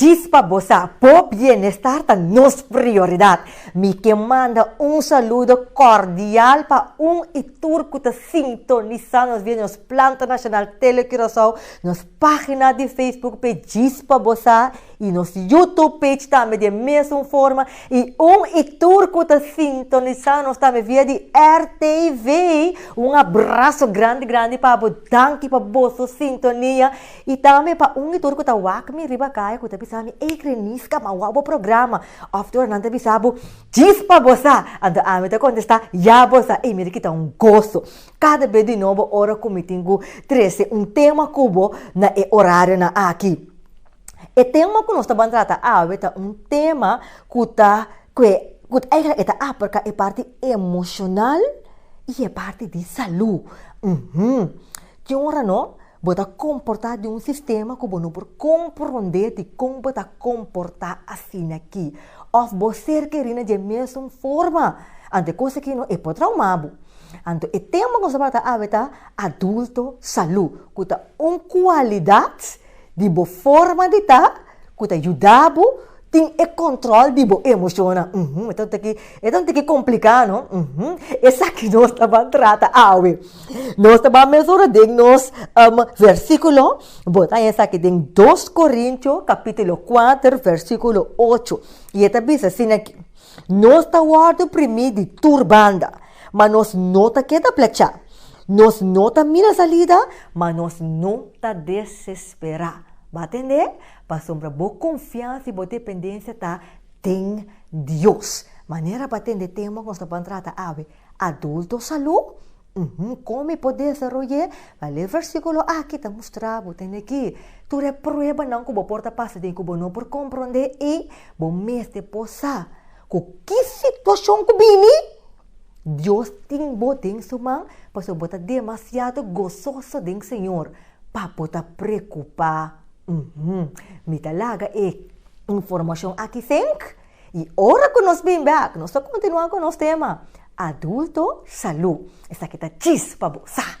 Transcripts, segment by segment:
Djis pa bo sa, bo bienestar ta nos prioridad. Mi ke manda un saludo cordial pa un i tur ku ta sintonisa nos via nos Planta Nacional Tele Curaçao, nos pagina di Facebook p'e Djis pa bo sa i nos YouTube page tambe di e mesun forma i un i tur ku ta sintonisa nos tambe via di RTV un abraso grandi grandi pa bo danki pa boso sintonia I tambe pa un di tur ku ta wak mi riba kaya ku ta bisa mi, Ey Kreniska, mi a wak bo programa. Òf tur nan ta bisa bo, Chispa bo sa! Anto ami ta kontestá, Ya bo sa! Ey mira ki ta un goso kada bes di nobo ora ku mi tin ku trese un tema ku bo na e orarionan aki. E tema ku nos ta ban trata awe ta un tema ku ta ku e ku e ta abarka e parti emoshonal i e parti di salú. Uhumm. Ki ora no? Bo ta komportá den un sistema ku bo no por komprondé dikon bo ta komportá asina aki. Òf bo ser kerí na dje mesun forma. Anto e kos aki no e por traumá bo. Anto e tempu ku bo ta abitá adulto salú, ku ta un kualidat di bo forma di ta, ku ta yuda bo tin e kòntròl di bo emoshonnan. Uhum, e ta un tiki, e ta un tiki kompliká, no? Uhum. Esaki nos ta ban trata awe. Nos ta ban mesora den nos um, versíkulo. Bo ta haña esaki den dos Korintio kapítulo kuater versíkulo ocho. I e ta bisa asina aki, Nos ta wòrdu oprimí di tur banda, ma nos no ta keda plachá. Nos no ta mira salida, ma nos no ta desesperá. Bo tende? Pasobra bo konfiansa i bo dependensia ta den Dios. Manera pa tende tema ku nos ta ban trata awe, Adulto salú, uhum kon mi por desaroy'é? Bal'é versíkulo akí ta mustra bo tende ki tur e pruebanan ku bo por ta pasa den ku bo no por komprondé i bo mester por sa ku ki situashon ku bini, Dios tin bo den su man pasobra bo ta demasiado gososo den Señor. Papo ta preocupa, uhmm, mi ta laga e informacion aki fink y ora cu nos bin bek, nos ta continua cu nos tema, Adulto, Salud. Esaki ta chis pa bo, sa!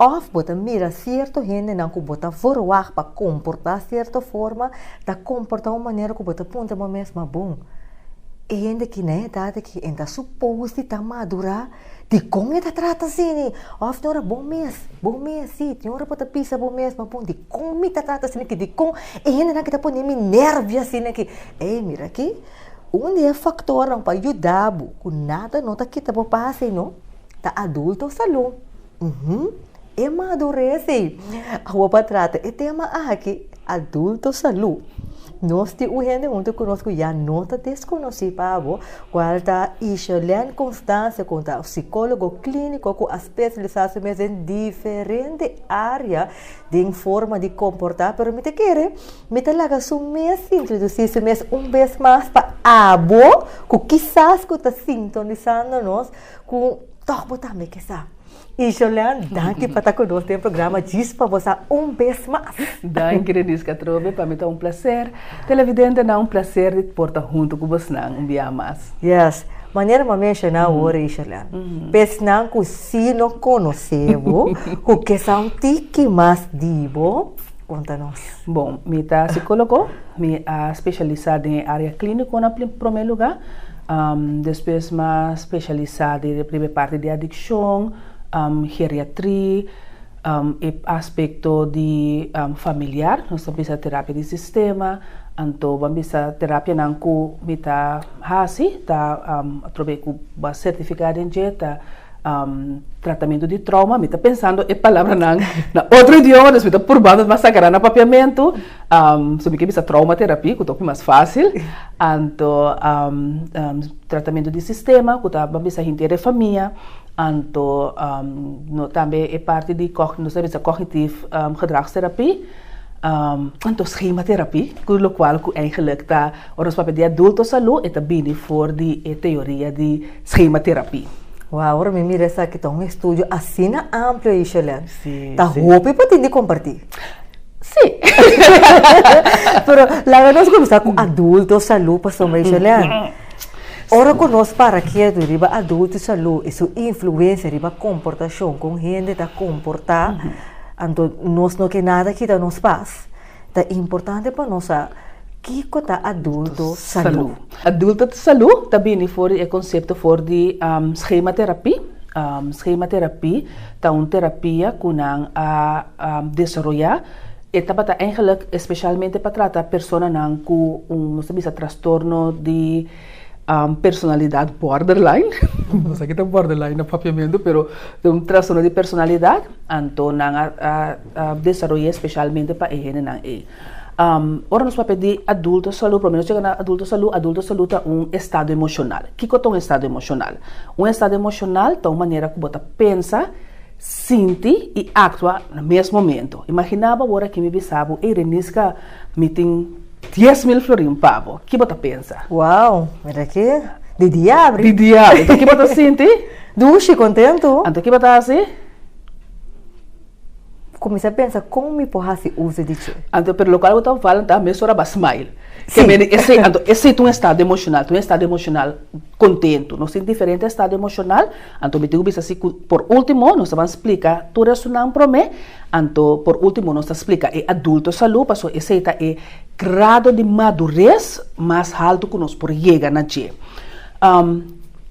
Òf bo ta mira sierto hendenan ku bo ta verwagt pa komportá sierto forma ta komportá un manera ku bo ta puntra bo mes, Ma bon, e hende ki na e edat aki e ta supos di ta madurá, dikon e ta trata así ni? Òf tin ora bo mes, bo mes sí, tin ora bo ta bisa bo mes, Ma bon, dikon mi ta trata asina ki? Dikon e hendenan ki ta pone mi nèrvio asina ki? Ei, mira aki, un di e faktornan pa yuda bo ku nada no ta kita bo pas ei no. Ta adulto salú? Uhum, e madurez ei! Awo pa trata e tema aki, adulto salú. Nos tin un hende huntu ku nos ku ya no ta deskonosí pa bo, kual ta Isherlene Constance ku ta psikólogo klíniko ku a spesialisá su mes den diferente área den forma di komportá. Pero mi ta kere mi ta laga su mes introdusí su mes un bes mas pa abo ku kisas ku ta sintonisando nos. Ku tok bo tambe ke sa. Ijolen, danki pa ta ku nos den programa Djis pa bo sa un bes mas. Danki Denise Catrobe, pa mi ta un plaser. Televidentenan, un plaser di por ta huntu ku bosnan un biaha mas. Yes, manera bo a menshoná awor, Ijolen, pa esnan ku si no konosé bo, ku ke sa un tiki mas di bo, konta nos. Bon, mi ta sikólogo, mi a speshalisá den área klíniko na promé lugá. Despues mi a specialisa den e primer parti di adiccion, geriatri, e aspecto di familiar, nos ta bisa terapia di sistema, anto bo a bisa terapianan cu mi ta haci ta probae cu bo a certifica den dje ta Tratamentu di trauma, mi ta pensando e palabranan na otro idioma, dus mi ta purbando mas sacará na papiamentu, so mi ke bisa trauma terapi ku ta hopi mas fásil, anto tratamentu di sistema ku ta ban bisa hintier e famia, anto tambe e parti di nos ta bisa kògnitif gedragsterapi, anto schema terapi, ku lokual ku eindelijk ta ora nos papia di adulto salú e ta bini for di e teoria di. Schema terapi. Wauw ora mi mira esaki ta un estudio asina amplio ayi Shelèn. Sí, Ta sí. hopi pa tin di kompartí. Sí. Pero laga nos kuminsá ku adulto salú pasobra ayi Shelèn. Ora ku nos para ketu riba adulto salú i su influensia riba komportashon kon hende ta komportá anto nos no ke nada kita nos pas. Ta importante pa nos sa kiko ta adulto salú. Adulto salú ta bini for di e konsepto for di skema terapí. Skema terapí ta un terapia ku nan a desaroyá. E tabata eingelik espeshalmente pa trata personanan ku un nos ta bisa trastorno di. um, personalidad borderline, no sa kita borderline na papiamento, pero de un trastorno di personalidad, anto nan a, a, a desarrollé specialmente pa e hendenan ei. Um, ora nos papia di adulto salud, por nos chega na adulto salud, adulto salud ta un estado emocional. Kiko ta un estado emocional? Un estado emocional ta un manera ku bo ta pensa, Sinti i aktua na mes momentu. Imaginá bo awor aki mi bisa bo, Ey Reniska, mi tin dies mil florin pa bo. Ki bo ta pensa? Wou, mira aki, di diabri! Di diabri! Anto ki bo ta sinti? Dushi, kontentu! Anto ki bo ta hasi? Kuminsá pensa, Kon mi por hasi uso di dje? Anto, pero lokal bo ta fala ta mes ora bo a smile. Ke mene esei. Anto, esei ta un estado emoshonal, ta un estado emoshonal kontentu. Nos tin diferente estado emoshonal. Anto mi tin ku bisa si ku por ultimo nos ta ban splika tur esunnan prome, anto por ultimo nos ta splika e adulto salu paso esei ta e grado di madures mas haltu ku nos por yega na dje.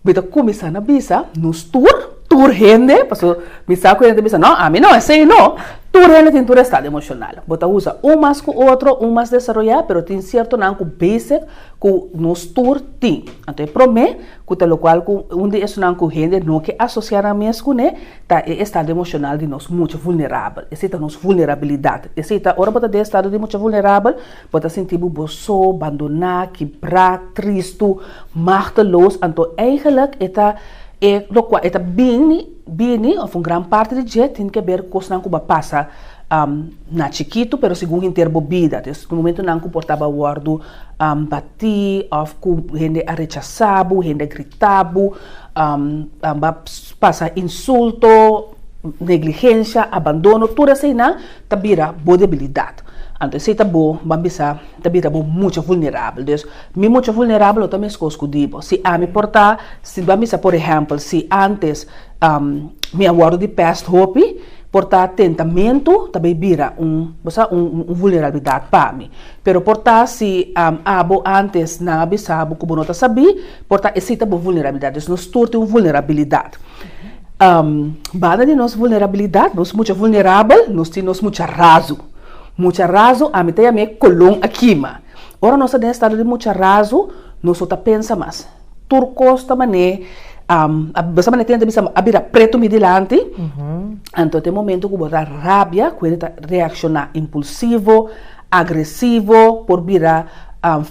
Mi ta kuminsá na bisa nos tur, tur hende, paso mi sa ku hende ta bisa no ami no esei no, tur hende tin tur estado emoshonal, bo ta usa un mas ku otro, un mas desaroyá pero tin siertonan ku besek ku nos tur tin. Anto e prome. ku ta lokual ku un di esunnan ku hende no ke asosiá nan mes kuné ta e estado emoshonal di nos mucha vulnerabel. Esei ta nos vulnerabilidat. Esei ta ora bo ta den e estado di mucha vulnerabel, bo ta sinti bo bo so, bandoná, kibrá, tristu, machteloos, anto eigenlik e ta e lokual e ta bini, Bini of un gran parti di dje tin ke ber kosnan ku bo a pasa na chikitu pero segun henter bo bida. Ta esaki momentunan ku por tabata wòrdu batí òf ku hende a rechasá bo, hende a gritá bo, bo a pasa insulto, negligensha, abandono, tur eseinan ta bira bo debilidat. Anto esei ta bo, bo a bisa, ta bira bo mucha vulnerabel. Mi mucha vulnerabel lo ta mescos cu di bo. Si ami por ta, si bo a misa por ehempel, si antes mi a wordo di pest hopi, por ta tentamentu ta bay bira un, bo sa, un vulnerabilidad pa mi. Pero por ta si abo antes nan a bisa bo cu bo no ta sabi, por ta esey ta bo vulnerabilidad. Pues nos tur tin un vulnerabilidad. Banda di nos vulnerabilidad, nos mucha vulnerabel, nos tin nos mucha razu. Mucha razu, ami ta yam'e colon a kima. Ora nos ta den estado di mucha razu, nos no ta pensa mas. Tur cos ta manera, basta manera tenta bisa a bira preto mi dilanti, anto ta e momento cu bo ta rabia, cu hende ta reacciona impulsivo, agresivo, por bira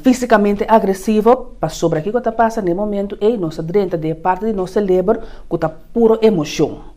fisicamente agresivo, pasobra kico ta pasa na e momento ey, nos ta drenta den e parti di nos celeber cu ta puro emocion.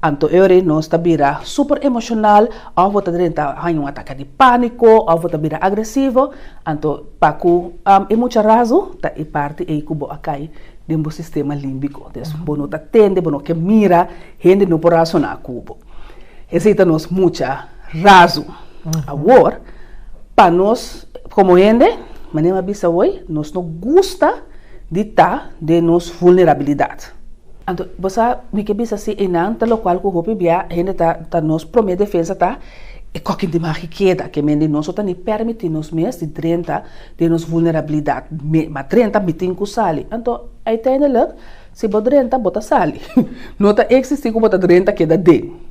Anto ore nos ta bira super emocional of bo ta drenta haña un ataque di panico of bo ta bira agresivo, anto pa cu e mucha razu ta e parti ey cu bo a cay den bo sistema limbico, des bo no ta tende, bo no ke mira, hende no por razona cu bo. Esey ta nos mucha razu. Awor, pa nos como hende, manera mi a bisa hoy, nos no gusta di ta den nos vulnerabilidad. Anto, bo sa wi ke bisa si einan, ta lokual ku hopi bia hende ta ta nos promé defensa ta e kokin di magi keda, ke men di nos no ta ni pèrmití nos mes di drenta den nos vulnerabilidat, me ma drenta mitin ku sali. Anto, uiteindelik, si bo drenta, bo ta sali. No ta eksistí ku bo ta drenta keda den.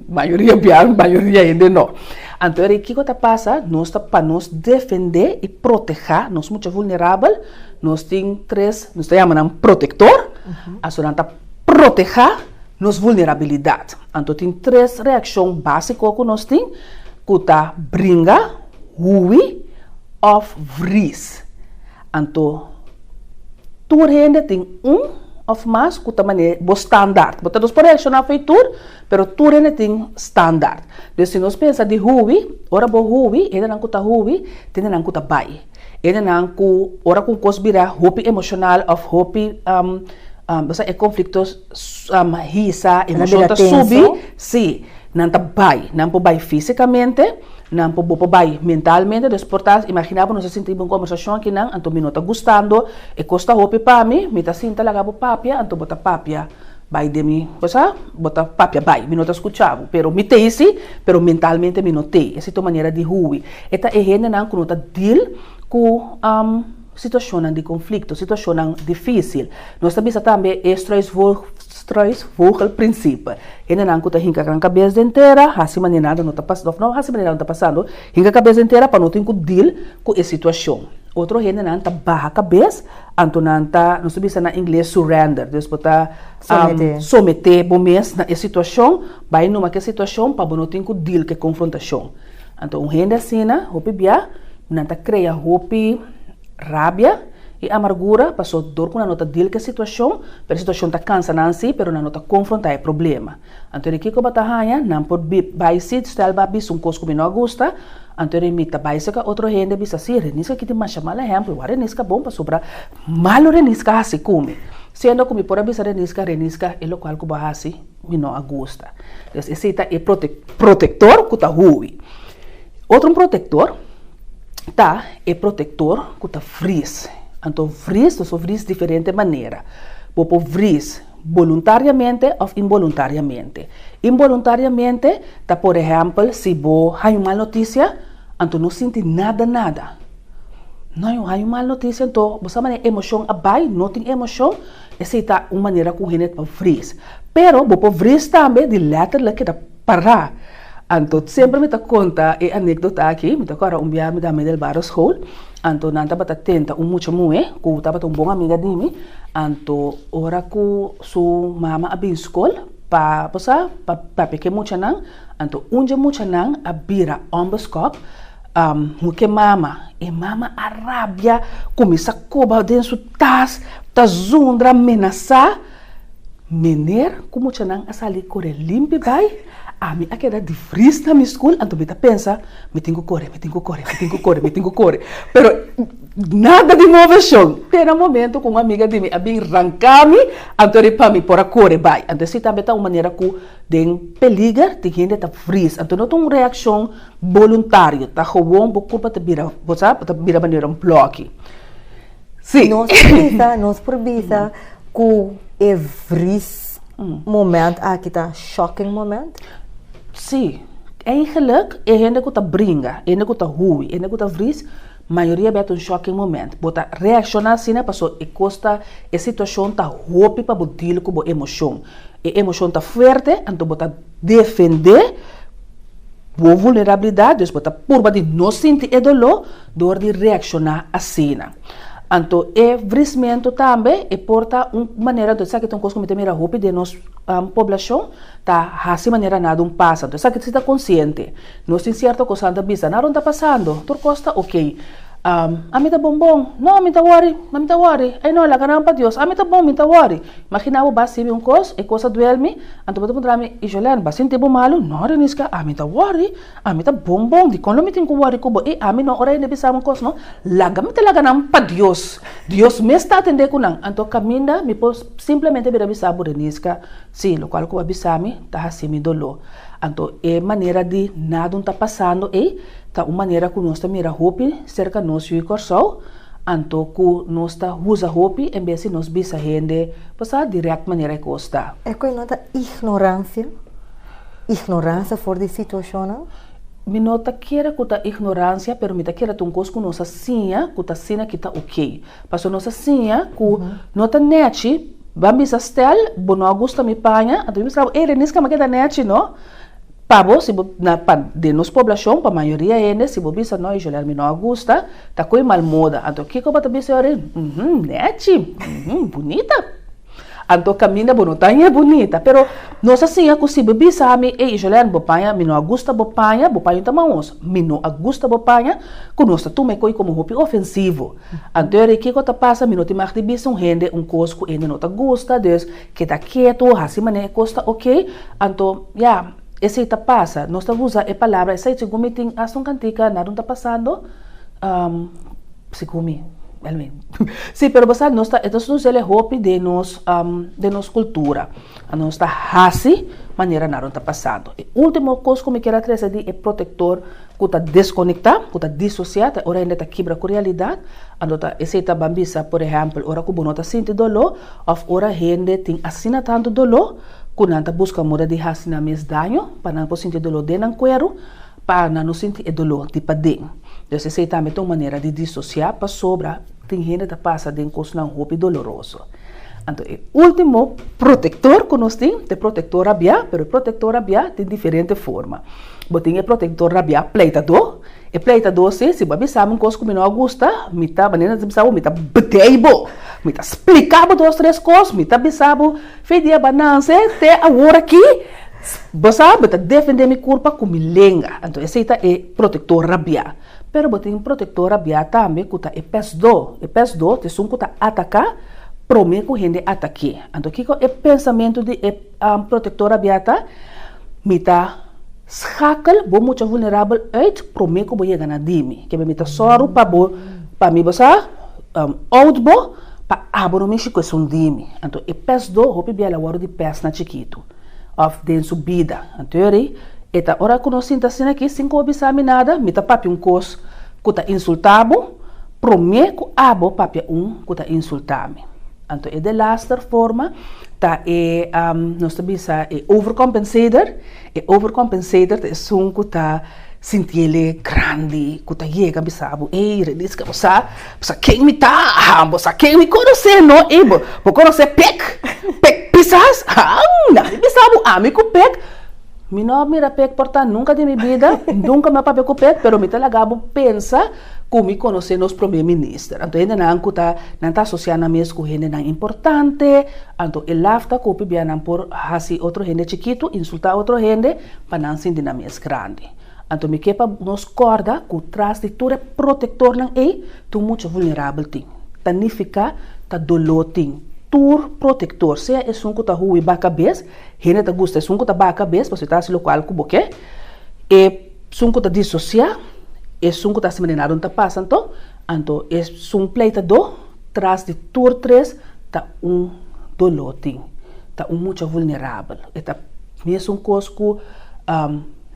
Mayoria bia, mayoria hende no. Anto, e rei kiko ta pasa? Nos ta pa nos defendé i protehá nos mucha vulnerabel, Nos tin tres, nos ta yama nan protektor, aso nan ta protehá nos vulnerabilidat. Anto tin tres reakshon básiko ku nos tin ku ta bringa, huwi òf vris. Anto tur hende tin un òf mas ku ta mane bo standaard. Bo ta dos por reakshoná afei tur, pero tur hende tin standaard. Pues si nos pensa di huwi, ora bo huwi, hendenan ku ta huwi ta hendenan ku ta bai. Endenan ku ora ku un kos bira hopi emoshonal òf hopi pasá e konflikto hisa, emoshon ta subi, si, nan ta bai. Nan por bai físikamente, nan por bo por bai mentalmente. Entonces por ta imaginá ku nos ta sintiba un kombersashon aki nan, anto mi no ta gustando, e kos ta hopi pa mi, mi ta sinta laga bo papia, anto bo ta papia Bai den mi, bo sa, bo ta papia bai, mi no ta skucha bo, pero mi tei si, pero mentalmente mi no tei. Esei ta un manera di hui. E ta e hendenan ku no ta dil ku situashonnan di konflikto, situashonnan difísil. Nos ta bisa tambe e struisvogelprinsipe, hendenan ku ta hinka gran kabes den tera, hasi manera nada no ta pasando, òf no hasi manera nada no ta pasando, Hinga kabes entera pa no tin ku deal ku e situashon. Otro hendenan ta baha kabes, anto nan ta, nos ta bisa na ingles, surrender, des bo ta someté bo mes na e situashon, bai numa ku e situashon pa bo no tin ku deal ku e konfrontashon. Anto un hende asina, hopi bia, nan ta krea hopi rabia i amargura, pasobra dor ku nan no ta deal ku e situashon, pero e situashon ta kansa nan si, pero nan no ta konfrontá e problema. Anto di kiko bo ta haña nan por bai si stel bo a bisa un kos ku mi no a gusta? Anto di mi ta bai seka otro hende a bisa si Renis a kiti masha mal ehèmpel, wa Renis ka bon pasobra malu Renis ka hasi ku mi, siendo ku mi por a bisa Renis Renis e lokual ku bo a hasi mi no a gusta. Entonces esei ta e protektor ku ta huwi. Otro un protektor ta e protektor ku ta vris. Anto vris ta so vris diferente manera. Bo por vris. boluntariamente òf inboluntariamente. Inboluntariamente ta por ehèmpel si bo haña un mal notisia, anto no sinti nada nada. No yo haña un mal notisia, anto bo sa manera e emoshon a bai, no tin emoshon, esei ta un manera ku hende ta vris. Pero bo por vris tambe di lèterlek keda. Pará. Anto semper mi ta konta e anekdota aki. Mi ta kòrda un biaha mi ta Midel Barrio School, anto nan tabata tenta un mucha muhé ku tabata un bon amiga di mi. Anto ora ku su mama a bin skol pa, bo sa, pa papia ke muchanan, anto un dje muchanan a bira òmberskòp hu ke mama. E mama a rabia, kuminsá koba den su tas, ta zundra, menasá. Mener ku muchanan a sali kore limpi bai, ami a keda di fris na mi skul, anto mi ta pensa, Mi tin ku kore, mi tin ku kore, mi tin ku kore, mi tin ku kore. Pero nada di moveshon. Te na momentu ku un amiga di mi a bin ranka mi, anto a di pa mi por a kore bai. Anto esei tambe ta un manera ku den peliger tin hende ta fris. Anto no ta un reakshon boluntario, ta gewon bo kurpa ta bira, bo sa, bo ta bira manera un bloki. Sí. Nos por bisa, nos por bisa ku e vris moment aki ta shocking moment? Sí. Eigenlik e hende ku ta bringa, e hende ku ta hui, e hende ku ta vris, mayoria a bèt un shocking moment. Bo ta reakshoná asina pasobra e kos ta, e situashon ta hopi pa bo deal ku bo emoshon. E emoshon ta fuerte, anto bo ta defendé. Bo vulnerabilidat, dus bo ta purba di no sinti e doló dor di reakshoná asina. Anto e vrismentu tambe e por ta un manera, anto esaki ta un kos ku mi ta mira hopi den nos poblashon ta hasi manera nan a dun pasa. Anto esaki si ta konsiente. Nos tin sierto kos ku nan ta bisa, nan aron ta pasando, tur kos ta ok. Ami ta bon bon, no mi ta wòri, no mi ta wòri, ey no, laga nan pa Dios, ami ta bon, mi ta wòri. Magina bo ba sibi un kos, e kos a duelmi, anto bo ta puntra mi, Ijolen, bo a sinti bo malu? No, Reniska, ami ta wòri, ami ta bon bon, dikon lo mi tin ku wòri ku bo? E ami no, ora e nebi sa un kos no, laga mi ta laga nan pa Dios, Dios mes ta atendé ku nan, anto kaminda mi por simplemente bira bisa bo, Reniska, si, lokual ku bo a bisa mi ta hasi mi doló. Anto e manera di nadun ta pasando ei ta un manera ku nos ta mira hopi serka nos yu i Kòrsou, Anto cu nos ta huza hopi en bes di nos bisa hende pa sa direct manera e cos ta. E cu e nota ignorancia? Ignorancia for di situacionnan? Mi no ta kere cu ta ignorancia, pero mi ta kere ta un cos cu nos a siña cu ta asina ki ta ok. Pasobra nos a siña cu no ta nechi, ban bisa Stel, bo no a gusta mi paña, anto mi bisa caba, ey Reniska, mi a keda nechi no. Pa bo, si bo, na, pa, den nos poblashon, pa mayoria hende, si bo bisa, No, Joler, mi no a gusta, ta ku e malmoda. Anto kiko bo ta bisa e orin? Uhm, nèchi! Uhm, bunita! Anto kaminda bo no ta haña bunita. Pero nos a siña ku si bo bisa ami, Ey, Joler, bo paña, mi no a gusta bo paña, bo paña ta maos, mi no a gusta bo paña, ku nos ta tuma e koi komo hopi ofensivo. Anto e orin kiko ta pasa? Mi no tin mag di bisa un hende un kos ku hende no ta gusta, dus, Keda ketu, hasi manera e kos ta oké, anto ya, esei ta pasa. Nos ta usa e palabra esei segun mi tin asta un kantika nada un ta pasando, segun mi, anyway. Sí, pero bo sa, nos ta, e ta sucede hopi den nos, den nos cultura. Nos ta hasi manera nada un ta pasando. E último kos ku mi kier a trese di e protector ku ta deskonekta, ku ta disosiá, ta e ora hende ta kibra ku realidat. Anto esei ta ban bisa, por ehèmpel, ora ku bo no ta sinti doló òf ora hende tin asina tantu doló ku nan ta buska muda di hasi nan mes daño pa nan por sinti doló den nan kueru, pa nan no sinti e doló di paden. Entonces, esei tambe ta un manera di disosiá pasobra tin hende ta pasa den kosnan hopi doloroso. Anto e último protektor ku nos tin ta e protektor rabiá, pero e protektor rabiá tin diferente forma. Bo tin e protektor na bia pleitadó? E pleitadó si, si bo a bisa mi un kos ku mi no a gusta, mi ta, manera mi ta bisa bo, mi ta bdei bo, mi ta splika bo dos tres kos, mi ta bisa bo, Fidia Bananse, te aworakí bo sa mi ta defendé mi kurpa ku mi lenga. Anto esei ta e protektor na bia. Pero bo tin protektor na bia tambe ku ta e pesdó. E pesdó ta esun ku ta ataká promé ku hende atak'é. Anto kiko e pensamentu di e. Protektor Abiata, mi ta skakel bo mucha vulnerabel uit promé ku bo yega na di mi. Kebé mi ta sòru pa bo, pa mi bo sa out bo, pa abo no mishi ku esun di mi. Anto e pèsdo hopi bia el a wòrdu di pèsnan chikitu, òf den su bida. Anto eri e ta, ora ku no sinta asina aki, sin ku bo bisa mi nada, mi ta papia un kos ku ta insulta bo, promé ku abo papia un ku ta insulta mi. Anto e delaster forma ta e nos ta bisa e overcompensator, e overcompensator ta esun ku ta sinti el'e grandi, ku ta yega bisa bo, ey Renisca bo sa ken mi ta, ha, bo sa ken mi konos'é no, ey bo konos'é pek, pek pisas, ha, nadie bisa bo ami ku pek, mi no a mira pek por ta nunka den mi bida, nunka mi a papia ku pek, pero mi ta laga bo pensa. Cu mi conoce nos Prome Minister. Anto hendenan cu ta, nan ta asocia nan mes cu hendenan importante, anto e lafta cu p'bia nan por haci otro hende chikitu, insulta otro hende, pa nan sinti nan mes grandi. Anto mi ke pa nos corda cu tras di tur e protectornan ey, tur mucha vulnerabel tin. Ta nifica, ta dolo tin. Tur protector, sea esun cu ta hui ba cabez, hende ta gusta esun cu ta ba cabez, pasobra ta haci locual cu bo ke, e. Sun ku ta disosiá, e sun ku ta hasi maneradon ta pasa anto, anto e sun pleitadó tras di tur tres ta un dolótin, ta un mucha vulnerabel. E ta mesun kos ku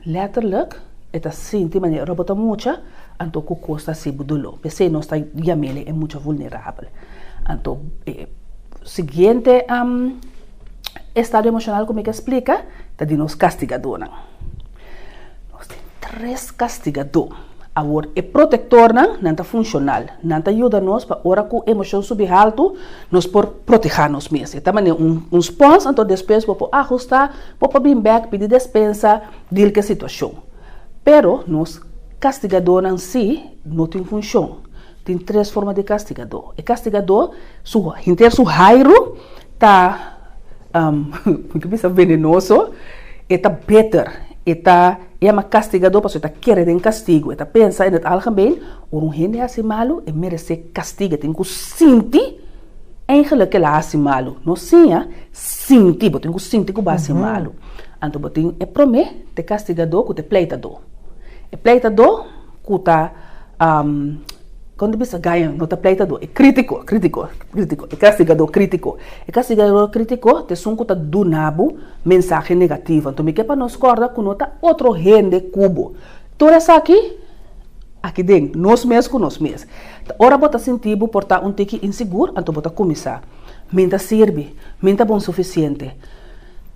lèterlik e ta sinti manera robo ta mucha, anto ku kos ta hasibu doló. P'esei nos ta yam'el e mucha vulnerabel. Anto e siguiente estado emoshonal ku mi ta splika ta di nos kastigadónan. Nos tin tres kastigadó. Awor e protektornan, nan ta funshonal. Nan ta yuda nos pa ora ku emoshon subi haltu, nos por protehá nos mes. E ta manera un spons, anto despues bo por ahustá, bo por bin bèk, pidi despensa, dil ku e situashon. Pero nos kastigadónan sí no tin funshon. Tin tres forma di kastigadó. E kastigadó su henter su hairu ta mi ta bisa venenoso, e ta bitter, e ta yama kastigadó pasobra e ta kere den kastigu, e ta pensa in het algemeen ora un hende hasi malu e meresé kastigu, e tin ku sinti eigenlik ke el a hasi malu, no siña, sinti, bo tin ku sinti ku bo a hasi malu. Anto bo tin e promé, te kastigadó ku te pleitadó. E pleitadó ku ta. Kon ta bisa Gaian? No ta pleitadó, e krítiko, krítiko, krítiko, e kastigadó krítiko. E kastigadó krítiko ta esun ku ta duna bo mensahe negativo. Anto mi ke pa nos kòrda ku no ta otro hende ku bo. Tur esaki aki den, nos mes ku nos mes. Ta ora bo ta sinti bo por ta un tiki insigur, anto bo ta kuminsá, Mi N ta sirbi, mi N ta bon sufisiente.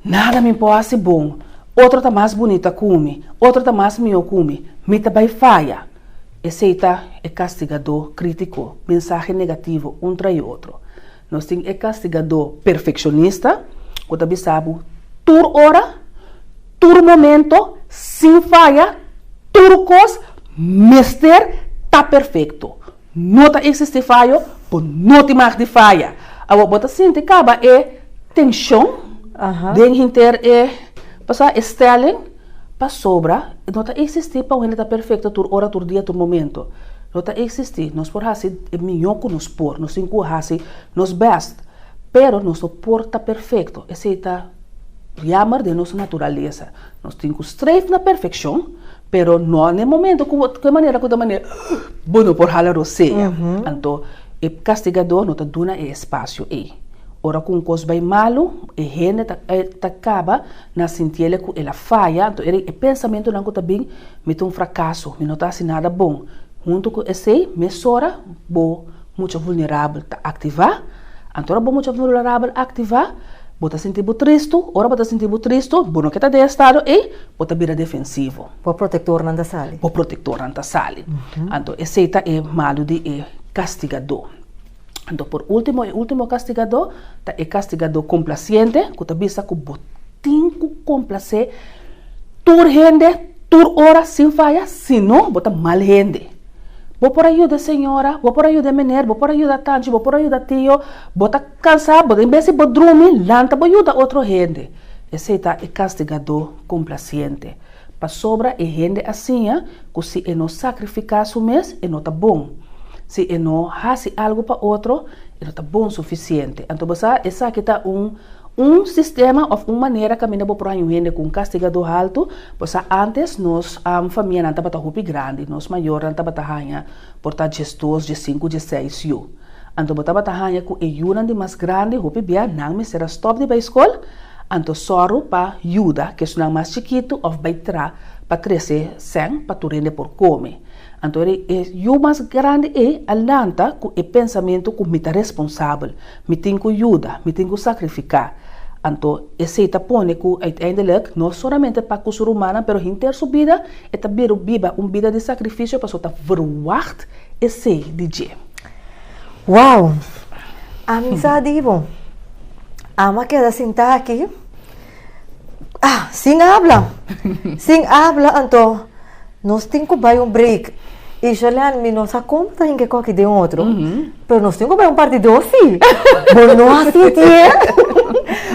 Nada mi por hasi bon, otro ta mas bunita ku mi, otro ta mas mihó ku mi, mi ta bai faya. Esei ta e kastigadó krítiko, mensahe negativo un tras e otro. Nos tin e kastigadó perfekshonista ku ta bisa bo tur ora, tur momento, sin faya, tur kos mester ta perfekto. No ta existi fayo, bo no tin mag di faya. Awa bo ta sinti caba e tension den hinter e pasá, e stelling, pasobra no ta existi pa un hende ta perfecto tur ora, tur dia, tur momento. No ta existi. Nos por haci e miño cu nos por, nos tin cu haci nos best, pero nos no por ta perfecto. Esey ta jammer den nos naturaleza. Nos tin cu streef na perfeccion. Pero no na e momento ku bo, ku e manera ku ta manera bo no por hala rosea. Anto e kastigadó no ta duna e espasio ei. Ora ku un kos bai malu, e hende ta ta kaba na sinti el ku el a faya, anto e pensamentunan ku ta bin, Mi ta un frakaso, mi no ta hasi nada bon. Huntu ku esei, mesora bo. Mucha vulnerabel ta aktivá. Anto ora bo mucha vulnerabel aktivá, bo ta sinti bo tristu. Ora bo ta sinti bo tristu, bo no ke ta den e estado ei, bo ta bira defensivo. Bo protektornan ta sali. Bo protektornan ta sali. Anto esei ta e malu di e kastigadó. Anto por último, e último kastigadó ta e kastigadó komplasiente ku ta bisa ku bo tin ku komplasé tur hende tur ora sin faya, sino bo ta mal hende. Bo por a yuda e señora, bo por a yuda e mener, bo por a yuda tanchi, bo por a yuda tio, bo ta kansa, bo ta en bes di bo drumi, lanta bo yuda otro hende. Esei ta e kastigadó komplasiente. Pasobra e hende asiña ku si e no sakrifiká su mes, e no ta bon. Si e no hasi algu pa otro, e no ta bon sufisiente. Anto bo sa, esaki ta un un sistema òf un manera kaminda bo por haña un hende ku un kastigadó haltu, Bo sa antes nos famianan tabata hopi grandi, nos mayornan tabata haña por ta djesdos, djesinku, djeseis yu. Anto bo tabata haña ku e yunan di mas grandi hopi bia nan mester a stòp di bai skol, anto sòru pa yuda kesunan mas chikitu òf bai tra pa trese sèn pa tur hende por kome. Anto e yu mas grandi ei a lanta ku e pensamentu ku mi ta responsabel. Mi tin ku yuda, mi tin ku sakrifiká. Anto, esei ta pone ku uiteindelik, no solamente pa ku su rumannan, pero hinter su bida, e ta biba un bida di sakrifisio pasobra ta verwagt esei di dje. Wow! Ami sa di bo, Ami a keda sintá aki sin habla, sin habla. Anto, nos tin ku bai un break. Isherley, mi no sa kon bo ta hinka koki den otro. Pero nos tin ku bai un par di dosi. Bo no a sinti e?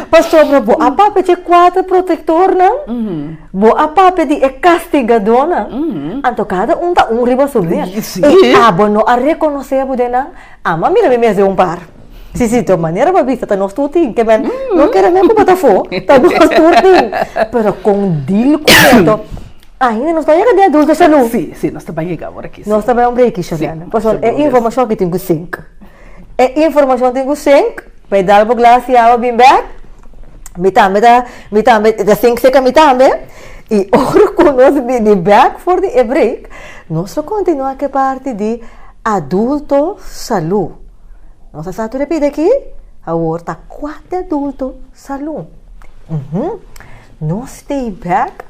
Pasobra bo a papia di e kuater protektornan, bo a papia di e kastigadónan, anto kada un ta un riba su mes. I abo no a rekonosé e budenan? Amo a mira mi mes den un par. Sí, sí, ta un manera bo a bisa, ta nos tur tin. Ke men no kere men ku bo ta afó, ta nos tur tin. Pero kon dil ku eto? Ainda nos ta yega di adulto salú. Sí, sí, nos ta bai yega awor aki. Sí. Nos ta bai un breki, Shariana. Sí, Pasobra e informashon aki tin ku sink. E informashon tin ku sink. Pa e dal bo glasha awa bin bek. Mi tambe ta, mi tambe ta sink seka mi tambe. I ora ku nos bini bek for di e break, nos lo kontinuá ku e parti di adulto salú. Nos a sa tur e pida aki. Awor ta kuat di adulto salú. Nos stay bek.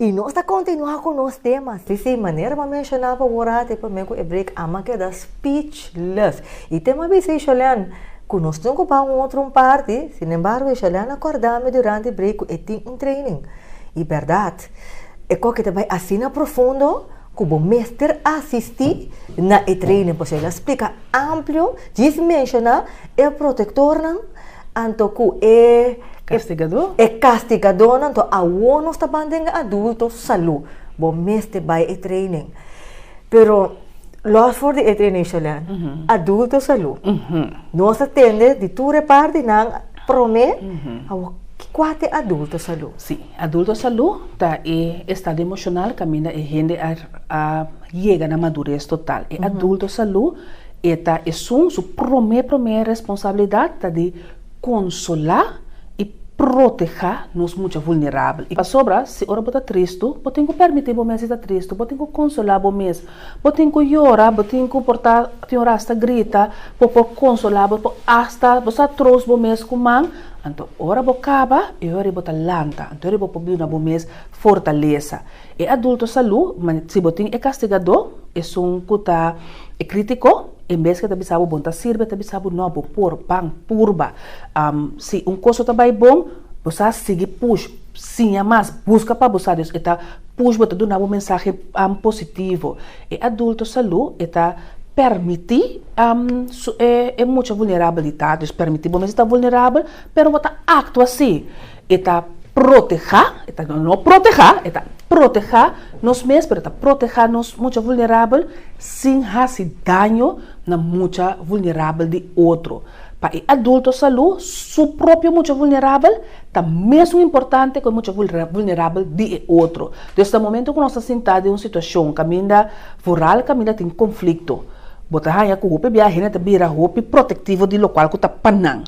I nos ta kontinuá ku nos tema. Sí, sí, manera bo a menshoná pa wòrá te pa mi ku e break ama keda speechless. E tem a bisa e Sholian ku nos tin ku bai un otro un parti, sinembargo e Sholian a kòrdá mi durante e break ku e tin un training. I bèrdat, e kòke ta bai asina profundo ku bo mester asistí na e training pasobra el a splika amplio, djis menshoná. e protektornan anto ku e kastigadónan. Anto awor nos ta ban den e adulto salú bo mester bai e treinin. Pero lòs for di e treinin Shelèn, adulto salú nos a tende di tur e parti nan promé. Awor, kua ta e adulto salú? Sí, adulto salú ta e estado emoshonal kaminda e hende a yega na madures total. E adulto salú. E ta esun su promé promé responsabilidat ta di konsolá i protehá nos mucha vulnerabel. I pasobra si ora bo ta tristu, bo tin ku pèrmití bo mes di ta tristu, bo tin ku konsolá bo mes. Bo tin ku yora, bo tin ku por ta tin ora asta grita, bo por konsolá, bo por asta bo sa troos bo mes ku man. Anto ora bo kaba, e ora ei bo ta lanta, anto ora ei bo por duna bo mes fortalesa. E adulto salú, ma si bo tin e kastigadó, esun ku ta e kritiko, en bes ku e ta bisa bo bon ta sirbi, e ta bisa bo, no, bo por, ban, purba. Si un kos no ta bai bon, bo sa, sigui push, siña mas, buska pa bo sa. Dios e ta push bo, e ta duna bo mensahe positivo. E adulto salú e ta permití su e mucha vulnerabel di ta. Dios permití bo mes di ta vulnerabel, pero bo ta aktua así. E ta protehá, e ta no protehá, e ta protehá nos mes, pero e ta protehá nos mucha vulnerabel sin hasi daño na mucha vulnerabel di otro. Pa e adulto salú, su propio mucha vulnerabel ta mesun importante ku e mucha vulnerabel di e otro. Entonces na momento ku nos ta sintá den un situashon kaminda vooral kaminda tin konflikto, bo ta haña ku hopi bia hende ta bira hopi protektivo di lokual ku ta pa nan.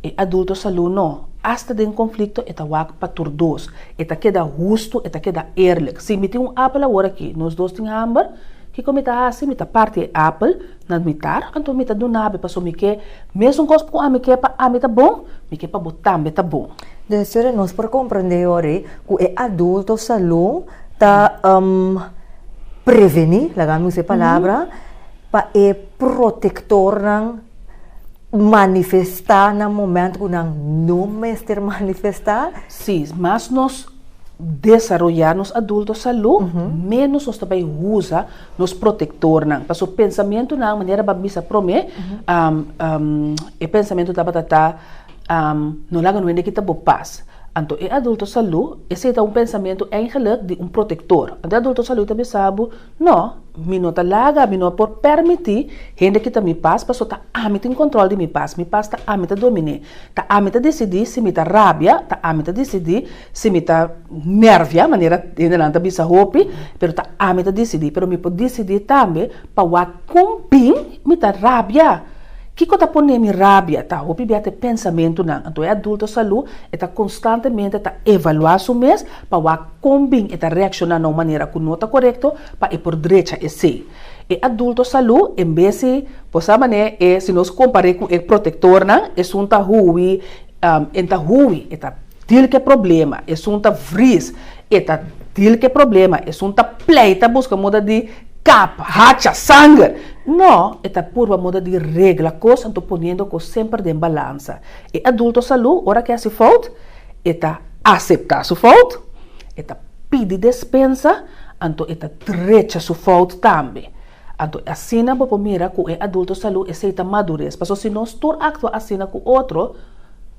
E adulto salú no. Asta den konflikto e ta wak pa tur dos. E ta keda hustu, e ta keda eerlik. Si mi tin un apel awor aki, nos dos tin hamber, kiko mi ta hasi? Mi ta parti e apel na mitar, anto mi ta dun'abe paso mi ke mesun kos ku ami ke pa ami ta bon, mi ke pa bo tambe ta bon. Desere nos por komprendé ori ku e adulto salú ta prevení, laga mi usa e palabra, pa e protektornan. manifestá na momento ku nan no mester manifestá? Sí, mas nos desaroyá nos adulto salú, ménos nos ta bai usa nos protektornan. Pasobra pensamentunan, manera Bab bisa promé, e pensamentu tabata ta, no laga no hende kita bo pas. Anto e adulto salú, esei ta un pensamentu eingelik di un protektor. Anto e adulto salú ta bisa bo. No, mi no ta laga, mi no a por permití hende kita mi pas, paso ta ami tin kontrol di mi pas, mi pas ta ami ta dominé. Ta ami ta disidí si mi ta rabia, ta ami ta disidí si mi ta nèrvia, manera hendenan ta bisa hopi, pero ta ami ta disidí. Pero mi por disidí tambe pa wak kon bin mi ta rabia. Kiko ta pon'é mi rabia? Ta hopi bia ta e pensamentunan. Anto e adulto salú e ta konstantemente ta evaluá su mes. pa wak kon bin e ta reakshoná na un manera ku no ta korekto pa e por drecha esei. E adulto salú en bes si por sa manera e si nos kompar'é ku e protektornan esun ta huwi en ta huwi e ta dil ku e problema esun ta vris e ta dil ku e problema esun ta pleita buska moda di kap hacha sanger no e ta purba moda di regla kos anto poniendo kos semper den balansa e adulto salú ora ke hasi fout e ta aseptá su fout, e ta pidi despensa, anto e ta drecha su fout tambe. Anto asina bo por mira ku e adulto salú esei ta madures. Pasobra si nos tur aktua asina ku otro,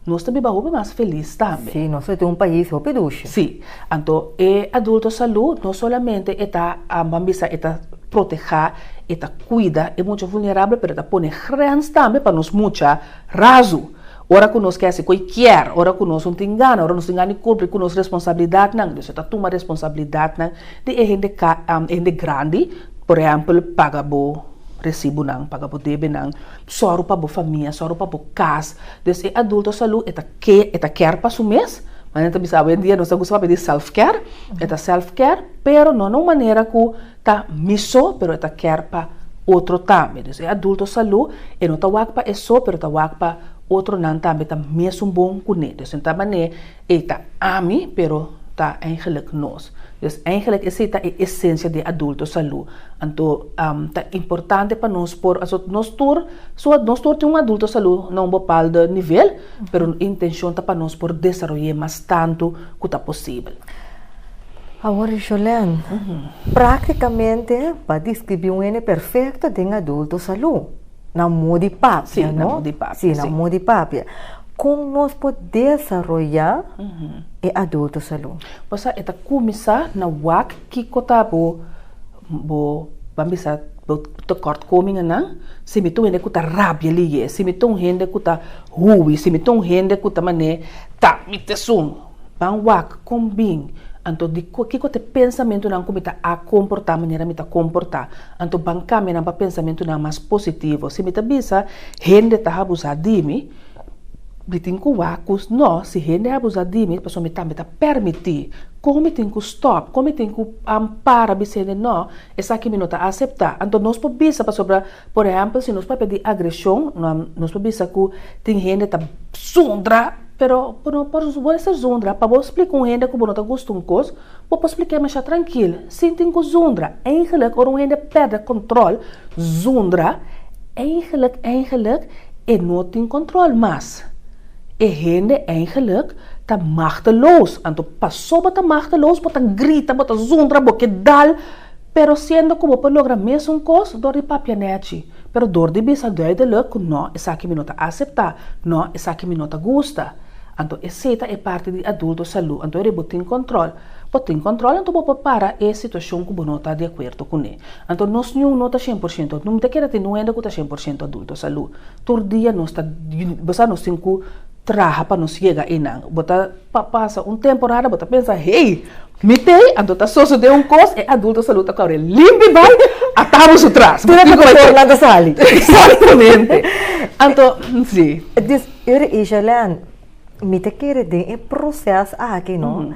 nos ta biba hopi mas felis tambe. Sí, nos lo tin un pais hopi dushi. Sí. Anto e adulto salú no solamente e ta, bo a bisa, e ta protehá, e ta kuida e mucha vulnerabel, pero e ta pone grens tambe pa nos mucha razu. Ora ku nos ke hasi ku e kier, ora ku nos un tin gana, ora nos tin gana di kumpli ku nos responsabilidatnan, Dios lo ta tuma responsabilidatnan di e hende ka, e hende grandi, por ehèmpel, paga bo resibunan, paga bo debenan, sòru pa bo famia, sòru pa bo kas. Des e adulto salú e ta ke, e ta kier pa su mes, manera nan ta bisa awe en dia nos ta gusta papia di self care, e ta self care, pero no na un manera ku ta mi so pero e ta kier pa otro tambe dus e adulto salu e no ta wak pa e so pero ta wak pa otro nan tambe ta mesun bon kune dus den ta mane e ta ami pero ta eigenlik nos dus eigenlik esi ta e esensia di e adulto salu anto ta importante pa nos por a nos tur so nos tur tin un adulto salu na un bopaldo nivel pero intenshon ta pa nos por desaroye mas tantu ku ta posibel. Awor Jolèn, práktikamente pa deskribí un hende perfekto den adulto salú, na mó di papia, no? Sí, na mó di papia. Kon nos por desaroyá e adulto salú? Bo sa e ta kuminsá na wak kiko ta bo bo ban bisa bo tekòrtkomingennan, si mi ta un hende ku ta rabia liyé, si mi ta un hende ku ta huwi, si mi ta un hende ku ta manera ta mi t'esun. Ban wak kon bin, anto di kiko t'e pensamentunan ku mi ta a komportá manera mi ta komportá? Anto ban kambia nan pa pensamentunan mas positivo. Si mi ta bisa hende ta habusá di mi, mi tin ku wak kos nò. Si hende habusá di mi pasobra mi tambe ta pèrmití. Kon mi tin ku stòp? Kon mi tin ku para bisa hende nò? Esaki mi no ta aseptá. Anto nos por bisa pasobra. Por ehèmpel, si nos papia di agreshon, nos por bisa ku tin hende ta zundra, pero bo no por ser zundra. Pa bo splika un hende ku bo no ta gusta un kos, bo por splik'é masha trankil, sin tin ku zundra. Eigenlik, ora un hende pèrdè kòntròl, zundra, eigenlik, eigenlik e no tin kòntròl mas. E hende eigenlik ta machteloos. Anto pasobra bo ta machteloos, bo ta grita, bo ta zundra, bo ke dal. Pero siendo ku bo por logra mesun kos dor di papia nèchi, pero dor di bisa duideluk ku nò, esaki mi no ta aseptá, nò, esaki mi no ta gusta, anto esei ta e parti di adulto salú, anto ora bo tin kòntròl, bo tin kòntròl anto bo por para e situashon ku bo no ta di akuerdo kuné. Anto nos niun no ta shen por shento, no mi ta kere tin un hende ku ta shen por shento adulto salú, tur dia nos ta, bo sa nos tin ku. traha pa nos yega einan. Bo ta pasa un temporada, bo ta pensa, hey, mi tei, anto ta sosode un kos, e adulto sa luta cu awe limpi bai, a tabu su tras. Tira cu por nan ta sali. Exactamente. Anto, si. Dus, yo di Asia, Leanne, mi ta kere den e proces aki, no,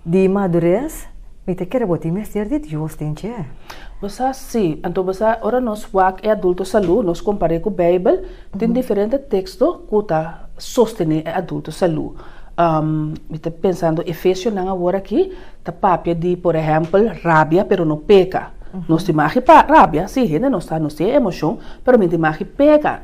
di madurez, Mi ta kere bo tin mester di Dios den dje. Bo sa? Sí. Anto bo sa, ora nos wak e adulto salú, nos kompar'é ku Beibel, tin diferente teksto ku ta sostené e adulto salú. Mi ta pensando Efesionan awor aki ta papia di por ehèmpel rabia pero no peka. Nos tin magi rabia, sí, hende nos ta nos tin e emoshon, pero mi tin magi peka.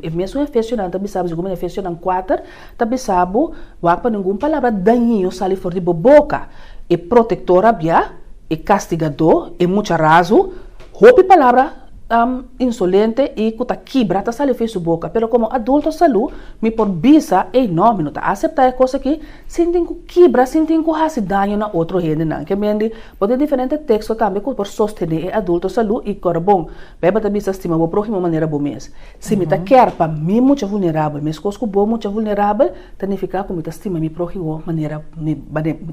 E mesun Efesionan ta bisa bo si ku mi na Efesionan kuater, Ta bisa bo, Wak pa ningun palabra dañino sali for di bo boka. E protektor a bia, e kastigadó, e mucha razu, hopi palabra insolente i ku ta kibra ta sali fin su boka. Pero komo adulto salú, mi por bisa, Ey nò, mi no ta aseptá e kos aki, sin tin ku kibra, sin tin ku hasi daño na otro hendenan. Ke mendi, bo tin diferente teksto tambe ku por sostené e adulto salú i kòrda bon. Bijbel ta bisa, Stima bo próhimo manera bo mes. Si mi ta kier pa mi mucha vulnerabel meskos ku bo mucha vulnerabel, ta nifiká ku mi ta stima mi próhimo manera mi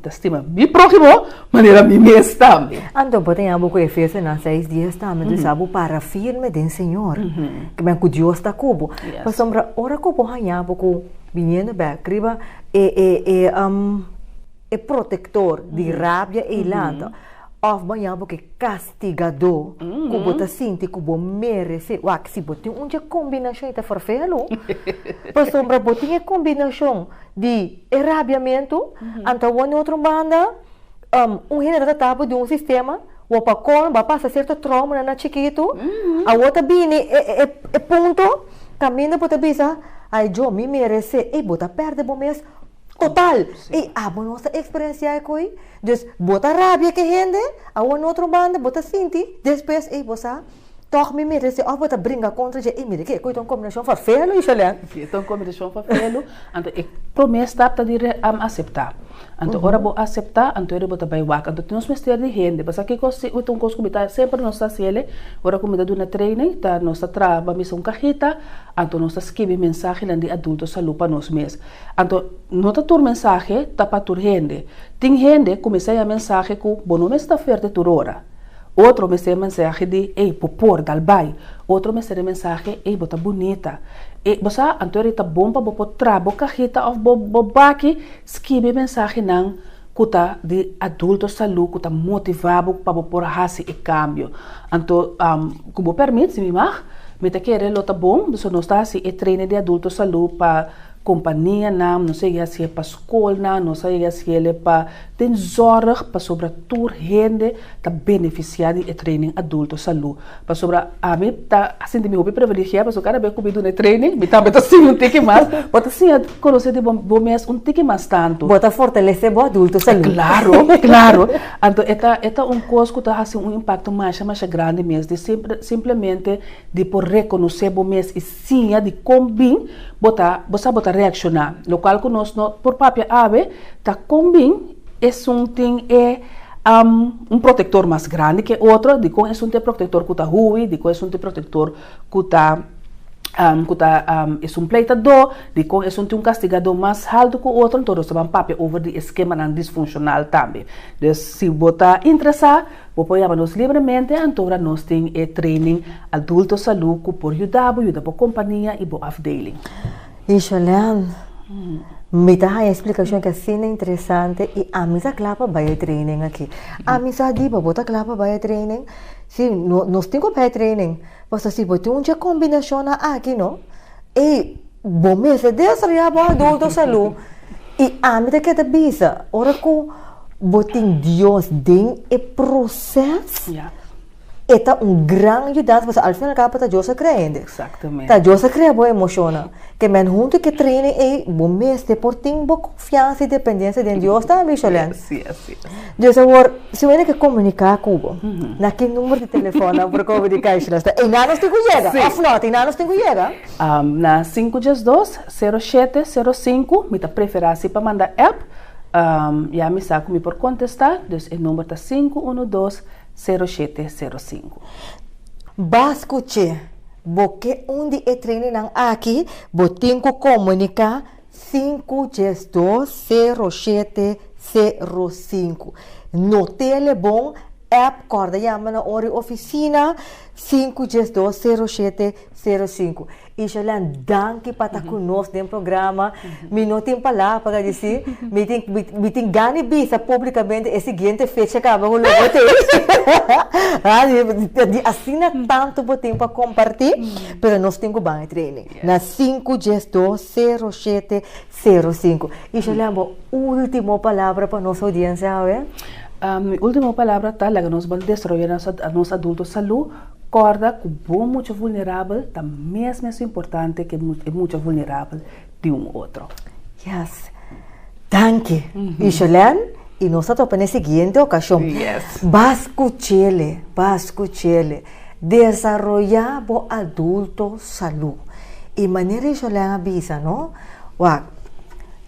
ta stima mi próhimo manera mi mes tambe. Anto bo ta yaga bo ku Efesonan seis dies tambe, Tur sa bo para firme den Señor, kimin ku Dios ta ku bo. Pasobra ora ku bo haña bo ku biniendo bèk riba e protektor di rabia eilandu, òf bo haña bo ku e kas. Castigadó cu bo ta sinti cu bo merece. Wak, si bo tin un dje combinacion y ta forfea lo, pasobra bo tin e combinacion di e rabiamento, anto awor den otro banda un hende ta trata bo di un sistema, wou pa colmo a pasa cierto traumanan na chikito, awor ta bini e punto caminda bo ta bisa, ay Dios, mi merece, ey bo ta perde bo mes. Total, ey abo nos ta experencia ecoy, dus bo ta rabia ke hende, awor no otro banda bo ta sinti, despues ey bo sa, toch mi mira dje of bo ta bringa contra dje, ey mira ke ecoy ta un combinacion fa felu y shalen. Si, ta un combinacion fa felu, anto e prome stap ta di am acepta, anto ora bo acepta, anto ey bo ta bay wak, anto nos mester di hende, basa kikos si ta un cos cu mi ta semper nos ta hacele, ora cu mi ta duna training, ta nos ta traha bamisa un cajita, anto nos ta skibi mensahenan di adulto salud pa nos mes. Anto no ta tur mensahe ta pa tur hende. Tin hende ku mester ya mensahe ku bo no mester ta fuerte tur ora. Otro mester e mensahe di ey bo por, dal bai. Otro mester e mensahe ey bo ta bunita. E bo sa anto eri ta bon pa bo por traha bo kahita of bo baki skibi e mensahenan ku ta di adulto salu ku ta motiva bo pa bo por hasi e kambio. Anto ku bo permit si mi mag mi ta kere lo ta bon so nos ta hasi e training di adulto salu pa Kompanianan, nos a yega siel pa skolnan, nos a yega siel e pa den zòrg pasobra tur hende ta benefisiá di e training Adulto Salú. Pasobra ami ta sinti mi hopi privilegiá pasobra kada bes ku mi duna e training mi tambe ta siña un tiki mas, bo ta siña konosé di bo mes un tiki mas tantu. Bo ta fortalesé bo Adulto Salú. Klaro, klaro. Anto e ta e ta un kos ku ta hasi un impakto masha masha grandi mes di simplemente di por rekonosé bo mes i. siña di kon bin bo ta bo sa bo ta reakshoná, lokual ku nos no por papia awe ta kon bin esun tin e un protektor mas grandi ke otro, di kon esun ta e protektor ku ta huwi, di kon esun ta e protektor ku ta ku ta esun pleitadó, di kon esun tin un kastigadó mas haltu ku otro, enton nos ta ban papia over di e skemanan disfunshonal tambe. Des si bo ta interesá. Bo por yama nos libremente antora nos tin e training Adulto Salú ku por yuda bo yuda bo kompania i bo afdeling. Isholen, mi ta haña e splikashon aki asina interesante i ami ta kla pa bai e training aki. Ami sa di bo bo ta kla pa bai e training? Si, nos tin ku bai e training, pasobra si bo tin un dje kombinashonnan aki no, ey! Bo mes a desarrolla bo adulto salú i ami ta keda bisa ora ku bo tin Dios den e proses e ta un gran yudansa pasobra al fin al kabo ta Dios a krea hende. Ta Dios a krea bo emoshonnan. Kemen huntu ku e training ei bo mester por tin bo konfiansa i dependensia den Dios tambe, Sholèn. Dios awor si bo a yega komuniká ku bo na ki numero di telefòn nan por komuniká, Sholèn? Pasobra e nan nos tin ku yega òf nò? Tin nan nos tin ku yega? Na sinku dies dos, sero shete, sero sinku, mi ta prefera si pa manda app, ya mi sa ku mi por kontestá, dus e number ta sinku unu dos, sero shete, sero sinku. Bas kuch'é bo ke un di e trainingnan aki, bo tin ku komuniká sinku dies dos, sero shete, sero sinku. No telebon, app, kòrda yama na ora e ofisina, sinku dies dos, sero shete, Sero sinku. Isherley danki pa ta ku nos den programa. Mi no tin palabra pa ta di si. Mi tin mi tin gana bisa publikamente e siguiente fecha kaba ku lo bo tin. di asina tantu bo tin pa komparti pero nos tin ku ban e training na sinku dies dos sero shete sero sinku. Isherley bo ultimo palabra pa nos oudiensia awe? Mi ultimo palabra ta laga nos bal desaroya nos adulto salu. Kòrda ku bo mucha vulnerabel ta mes mesun importante ke e mucha vulnerabel di un otro. Yes. Danki, Ishelène. I nos ta topa na e siguiente okashon. Yes. Bas ku chele, bas ku chele. Desaroyá bo adulto salú. I manera Ishelène a bisa no, wak,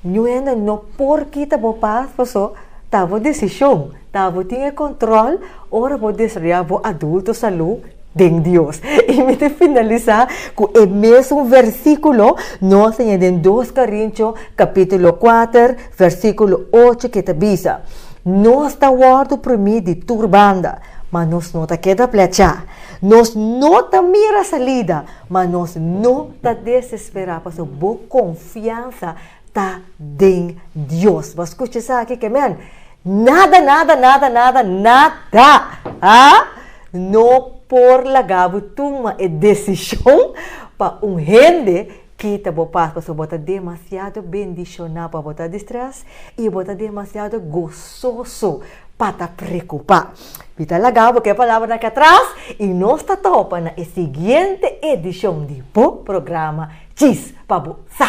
Ñu hende no por kita bo pas, paso ta bo desishon. Ta bo tin e control ora bo desarrolla bo adulto salud den Dios. Y mi ta finalisa cu e mesun versiculo no a siña den dos Corintios capitulo kuater versiculo ocho que ta bisa, Nos ta wordo primi di tur banda, ma nos no ta keda plecha. Nos no ta mira salida, ma nos no ta desespera pasobra bo confiansa Ta den Dios. Bo a scucha esaki ke men? Nada, nada, nada, nada, nada! Haa! No por laga bo tuma e decision pa un hende kita bo pas, pasobra bo ta demasiado bendiciona pa bo ta distress y bo ta demasiado gozoso pa ta preocupa. Mi ta laga bo ke palabra aki atras y nos ta topa na e siguiente edicion di bo programa Chis pa bo sa!